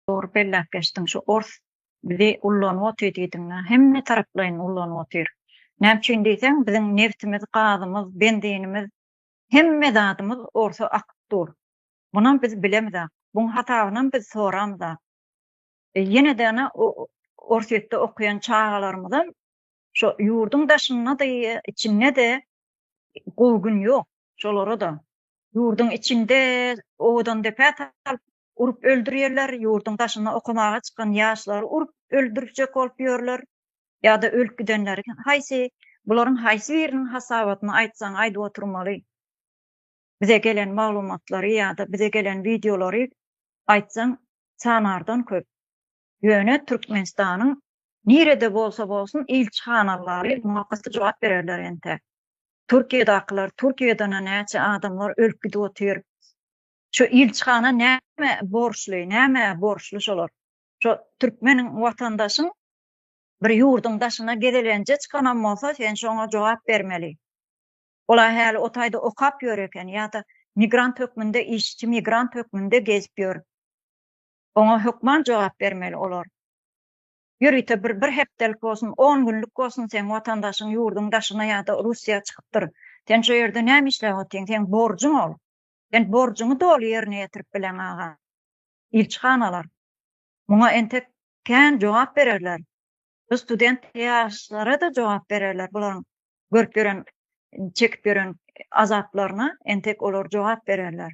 Dogry belläp geçdiň şu ors bizi ullanyp otyr diýdiňä hemme taraplaýyn ullanyp otyr näme üçin diýseň biziň nebtimiz gazymyz benzinimiz hemme zadymyz orsa akyp dur bunam biz bilemizak buň hasabynam biz soramyzak e ýenede ana orsýetde okaýan çagalarymyzam şo ýurduň daşyndady içindedi gowy gün ýok şolara da ýurduň içinde owadan depä salyp urup öldürýärler, ýurduň daşyna okamaga çykan ýaşlary urup öldürjek bolup ýörler, ýa-da ölüp gidenleri haýsy, bularyň haýsy biriniň hasabatyny aýtsaň aýdyp oturmaly. Bize gelen maglumatlary ýa-da bize gelen wideolary aýtsaň sanardan köp. Ýöne Türkmenistanyň nirede bolsa bolsun ilçihanalary muňa gaty jogap bererler entek. Türkiýedakylar, Türkiýeden-ä näçe adamlar ölüp gidip otyr. Şu ilçihana näme borçly, nämä borçly şolar? Şo türkmeniň watandaşyň bir ýurduň daşyna gezelenje çykanam bolsa, sen şoňa jogap bermeli. Ol-a häli o taýda okap ýör eken ýa-da migrant hökmünde, işçi migrant hökmünde gezip ýör. Oňa hökman jogap bermeli olar. Ýörite bir bir hepdelik bolsun, on günlük bolsun seň watandaşyň ýurduň daşyna ýa-da Russiýa çykypdyr. Sen şo ýerde näme işläp otyň? Seň borjuň ol. Sen borjuňy doly ýerine ýetirip bileň, aga. Ilçihanalar muňa entek kän jogap bererler. Bu student ýaşlara-da jogap bererler bularyň görüp ýören, çekip ýören azaplaryna entek olar jogap bererler.